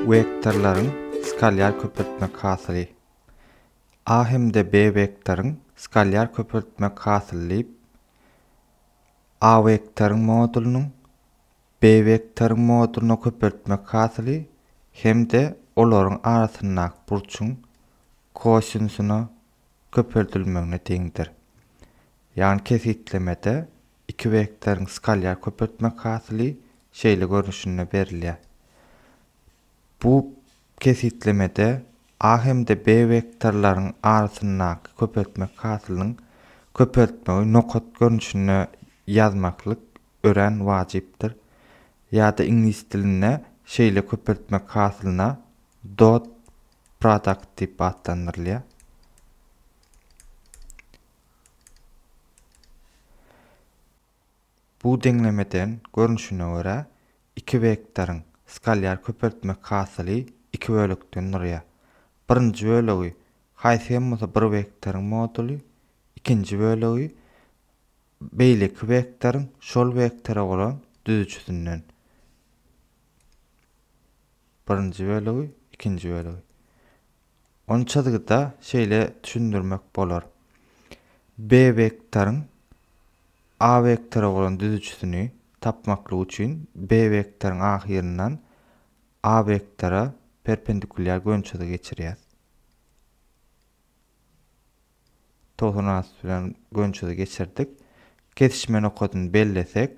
Wektorlaryň skalýar köpeltmek hasyly. A hem-de B wektoryň skalýar köpeltmek hasyly diýip, A wektoryň modulynyň B wektoryň modulyna köpeltmek hasyly hem-de olaryň arasyndaky burçuň kosinusyna köpeldilmegine deňdir. Ýagny kesgitlemede iki wektoryň skalar köpeltmek hasyly şeýle görnüşinde berilýär. Bu kesgitlemede A hem-de B wektorlaryň arasyndaky köpeltmek hasylynyň köpeltmegi nokat görnüşinde ýazmaklyk örän wajypdyr. Ýa-da iňlis dilinde şeýle köpeltmek hasylyna dot Product diýip atlandyrylýar. Bu deňlemeden görnüşine görä, iki wektoryň skalar köpeltmek hasyly iki bölekden durýar. Birinji bölegi haýsy hem bolsa bir wektoryň moduly, ikinji bölegi beýleki wektoryň şol wektora bolan düzüjisinden Birinji bölegi, ikinji bölegi. Ony çyzgyda şeýle düşündirmek bolar. B wektoryň A wektora bolan düzüjisini tapmaklyk üçin B wektoryň ahyryndan A wektora perpendikulýar gönçyzygy geçirýäs. Togsan alty bilen gönçyzy geçirdik. Kesişme nokadyny bellesek,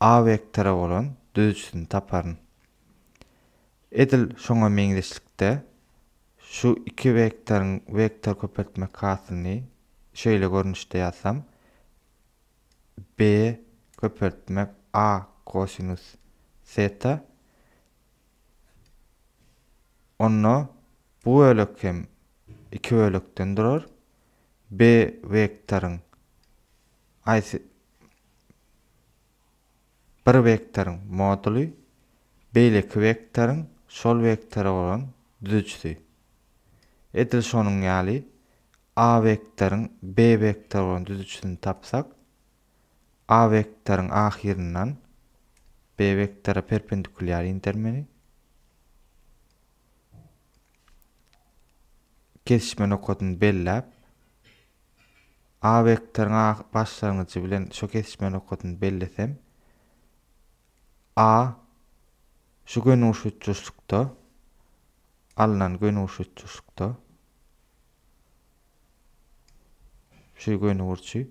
A wektora bolan düzüjisini taparyn. Edil şoňa meňzeşlikde, şu iki wektoryň wektor köpeltmek hasylyny şeýle görnüşde ýazsam, B köpeltmek A kosinus teta, onda bu bölek hem iki bölekden durar, B wektoryň haýsy bir wektoryň moduly beýleki wektoryň şol wektora bolan düzüjisi. Edil şonuň ýaly, A wektoryň B wektora bolan düzüjisini tapsak, A wektoryň ahyryndan B wektora perpendikulýar indermeni kesişme nokadyny belläp, A wektoryň A başlangyjy bilen şu kesişme nokadyny bellesem, A şu gönüguşuçuşlukda, alnan gönüguşuçuşlukda, şu gönügurçy,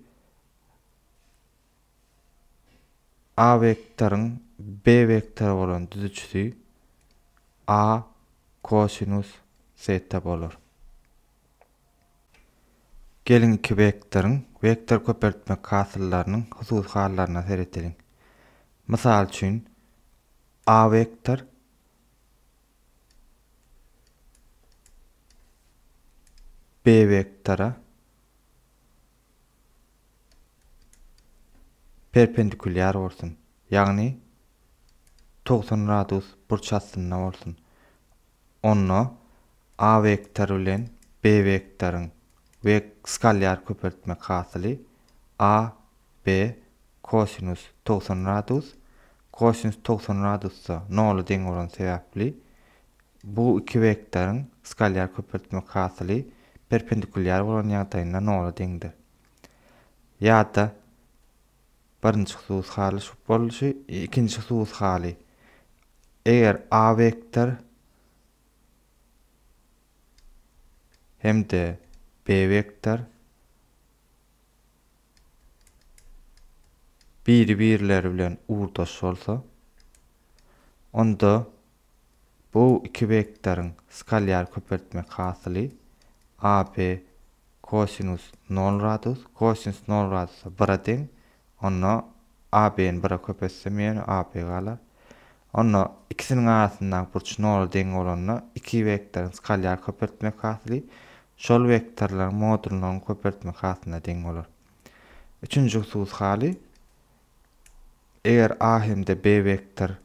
A wektoryň B wektory bolan düzüçisi A kosinus seta bolar. Geliň iki wektoryň wektor köpeltmek hasyllarynyň hususy hallaryna seredeliň. Mysal üçin, A wektor B wektora perpendikulýar bolsun, ýagny togsan gradus burç astynda bolsun. onda A wektory bilen B wektoryň we skalýar köpeltmek hasyly A, B, kosinus togsan gradus, kosinus togsan gradusda nola deň bolany sebäpli, bu iki wektoryň skalýar köpeltmek hasyly perpendikulýar bolan ýagdaýynda nola deňdir. Ýa-da Birinji hususy haly şu bolşy, ikinji hususy haly, eger A wektor hem-de B wektor biri-birleri bilen ugurdaş bolsa, onda Bu iki wektoryň skalyar köpeltmek hasyly AB kosinus nol gradus, kosinus nol gradusa bire deň, onda AB-ni bire köpetsem ýene AB galar. Onda ikisiniň arasyndaky burç nola deň bolanda iki wektoryň skalyar köpeltmek hasyly şol wektorlaryň modulnyň köpeltmek hasylyna deň bolar. Üçünji hususy haly, eger A hem-de B wektor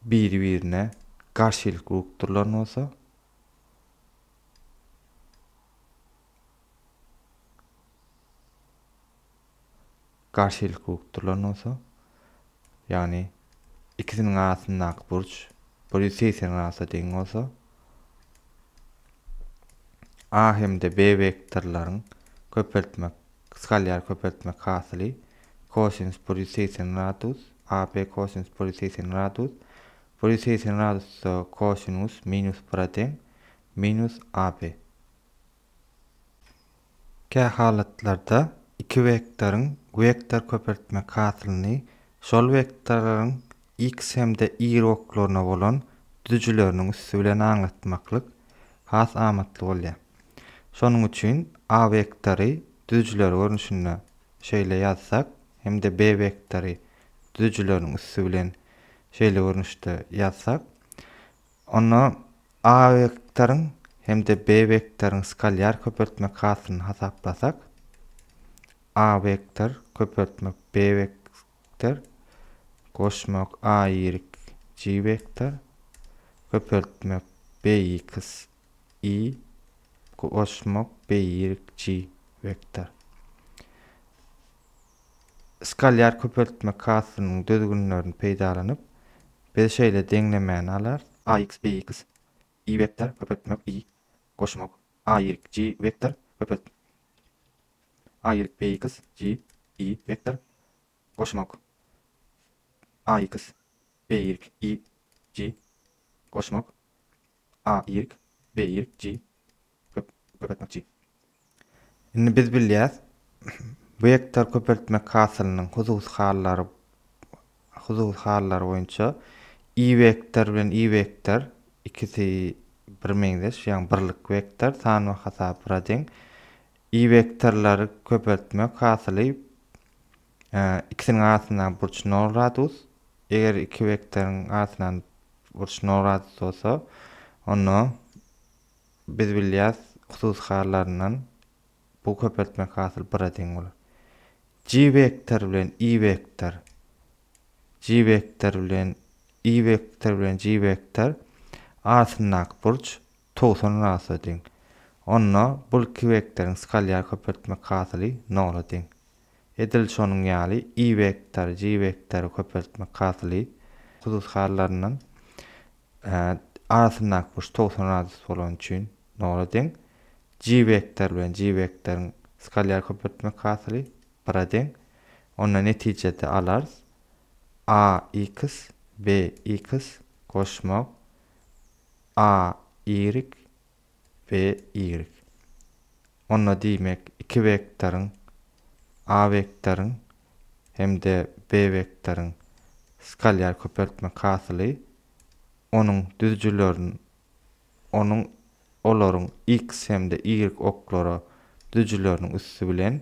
biri-birine garşylyk rugtdyrlar bolsa, garşylyk rugtdyrlar bolsa, ýagny ikisiniň arasyndaky burç bir ýüz segsen gradsa deň bolsa, A hem-de B wektorlaryň köpeltmek Gysgalýar köpeltmek hasyly, Cosinus polyceisinratus, AP. Cosinus polyceisinratus, polyceisinratus-da cosinus minus bir-a deň, minus AP. Kä halatlarda iki wektoryň wektor köpeltmek hasylyny şol wektorlaryň x hem-de y oklaryna bolan düzüjileriniň üsti bilen aňlatmaklyk has amatly bolýar. Şonuň üçin A wektory düzüjiler görnüşinde şeýle ýazsak hem-de B wektory düzüjileriň üsti bilen şeýle görnüşde ýazsak, onda A wektoryň hem-de B wektoryň skalýar köpeltmek hasylyny hasaplasak, A wektor köpeltmek B wektor goşmak AYJ wektor köpeltmek BX i goşmak birikji wektor. Skalýar köpeltme kasynyň düzgünlerini peýdalanyp, biz şeýle deňlemäni alarys. Ax bx i wektor köpeltmek i goşmak aýryk j wektor köpelt aýryk bx j i wektor goşmak ax bx i j goşmak a ýig b ýig ji köp köpeltmekçi. Indi biz bilýäs, wektor köpeltmek hasylynyň hususy hallary hususy hallary boýunça i wektor bilen i wektor ikisi birmeňzeş, ýagny birlik wektor, san we hasap bira deň. I wektorlary köpeltmek hasyly Ikisiniň arasyndaky burç nol gradus. Eger iki wektoryň arasyndaky burç nol gradus bolsa, onda biz bilýäs hususy hallaryndan bu köpeltmek hasyl bira deň bolar. G wektor bilen i wektor G wektor bilen i wektor bilen G wektor arasyndaky burç Towsuny rasla deň. Onda bul kibekderiň skalýar köpeltmek hasyly nola deň. Edil şonuň ýaly ibekder, jibekderi köpeltmek hasyly hususy hallarynyň arasyndaky burç towsun radius bolany üçin nola deň. Jibekder bilen jibekderiň skalýar köpeltmek hasyly bira deň. Onda netijede alarys, AX, BX goşmak. A y B y Onda diýmek iki wektoryň, A wektoryň hem-de B wektoryň skalýar köpeltmek hasyly onuň düzüjilerin onuň olaryň x hem-de y oklara düzüjileriniň üsti bilen